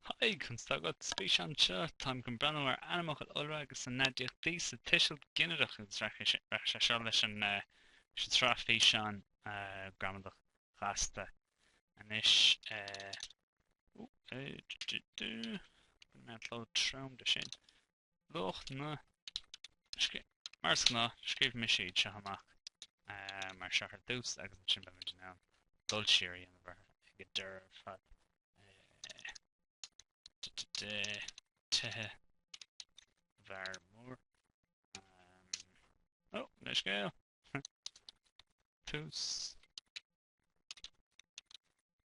Haigh, conas tá agat? Spéis anseo, táim chun breathnú ar ainmfhocail iolra agus a n-aidiachtaí sa tuiseal ginideach agus rachaidh sé seo leis an sraith físeán Gramadach Ghasta anois. Bhain mé an cló trom de sin. luach na. Mar is gnáth, scríobh mise iad seo amach mar seo ar dtús agus ansin beimid in ann dul siar a dhéanamh orthu ag an deireadh ar fad. Tithe bhfear mór. Ó, leithscéal! Tús.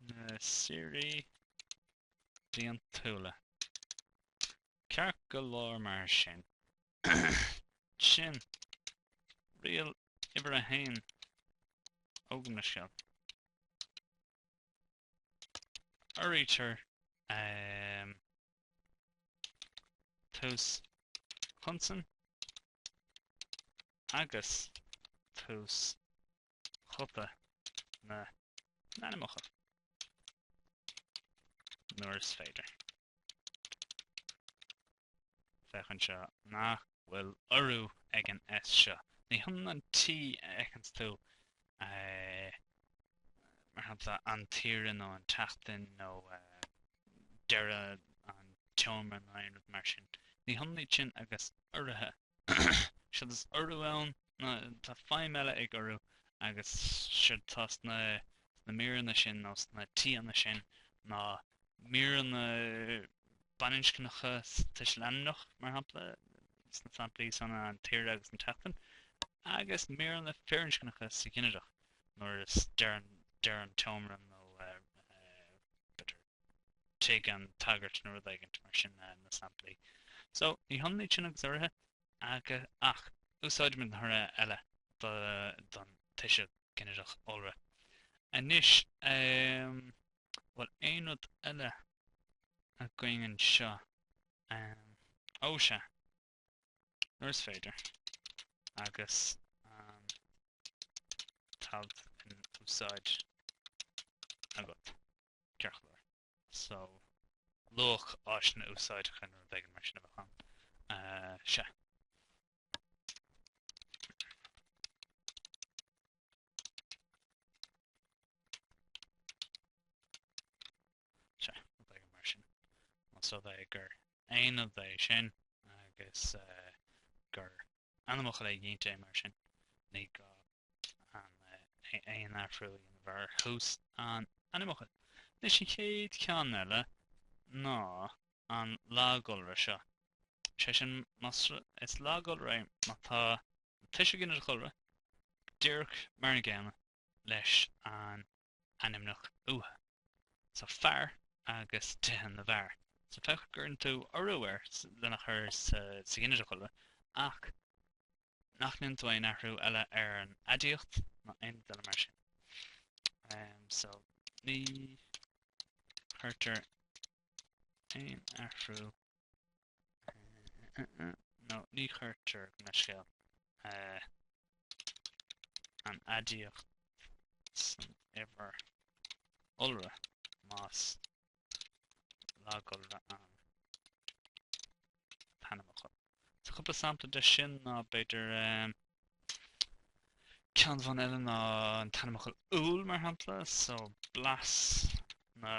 na saoirí bliantúla. Ceart go leor mar sin. Sin riail uimhir a haon. Ó, gabh mo leithscéal. Uraítear tús chonsan agus tús ghuta na n-ainmneacha nuair is féidir. Féach anseo nach bhfuil urú ag an S seo. Ní hionann an T a fheiceanns tú mar shampla an tsaoire nó an tseachtain nó deireadh an tseomra nó aon rud mar sin. Ní hionann iad sin agus uruithe Séard is urú ann, tá feidhm eile ag urú agus séard atá sna míreanna sin nó sna T-anna sin ná míreanna baininscneacha tuiseal ainmneach mar shampla sna samplaí san an tsaoire agus an tseachtain agus míreanna firinscneacha sa ghinideach nuair is deireadh an tseomra nó b'fhéidir tig an tsagairt nó rud éigint mar sin na samplaí. So, ní hionann iad sin agus uruithe, ach úsáidimid an t-urú eile don tuiseal ginideach iolra. Anois, bhfuil aon rud eile againn anseo? Ó, sea. nuair is féidir agus an t-alt in úsáid agat, ceart go leor. So, luach áiseanna úsáideacha nó rud éigin mar sin a bheadh ann. Sea. sea, rud éigin mar sin. Más rud é gur aon rud é sin agus gur ainmfhocal éiginnte mar sin, ní gá aon athrú a dhéanamh ar thús an ainmfhocail. Anois an chéad cheann eile ná an lagiolra seo, sé sin, más rud, is lagiolra é má tá an tuiseal ginideach iolra díreach mar an gcéanna leis an ainmneach uatha so fear agus tithe na bhfear so féach go gcuireann tú urú air lena chur sa ghinideach iolra ach nach ndéanann tú aon athrú eile ar an aidiacht ná aon rud eile mar sin. Um, so ní chuirtear aon athrú nó ní chuirtear gabh mo leithscéal an aidiacht san uimhir iolra más lagiolra an t-ainmfhocal. Tá cúpla sampla de sin ná b'fhéidir ceann amháin eile ná an t-ainmfhocal 'Úll' mar shampla, so blas na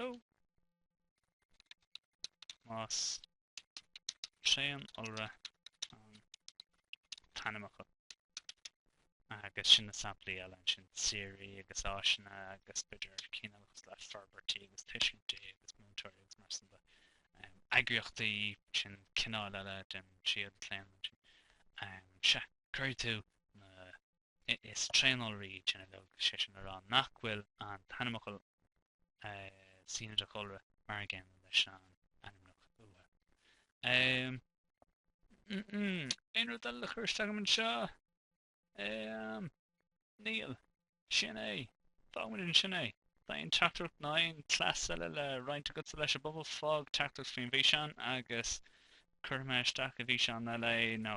iolra más tréaniolra an t-ainmfhocal agus sin na samplaí eile ansin, saoirí agus áiseanna agus b'fhéidir cinn eile cosúil le forbairtí agus tuiscintí agus múinteoirí agus mar sin de. Eagraíochtaí, sin cineál eile den tríú díochlaonadh ansin. Sea, cuirfidh tú na Is tréaniolraí iad sin uilig sé sin le rá nach bhfuil an t-ainmfhocal sa ghinideach iolra mar an gcéanna leis an ainmneach uatha. Umm umm aon rud eile le cur isteach agam anseo? Umm níl. Sin é. Fágfaidh muid ansin é. Má tá aon teachtaireacht nó aon chleas eile le roinnt agatsa leis an bpobal? Fág teachtaireacht faoin bhfíseán agus cuirfidh mé isteach i bhfíseán eile é nó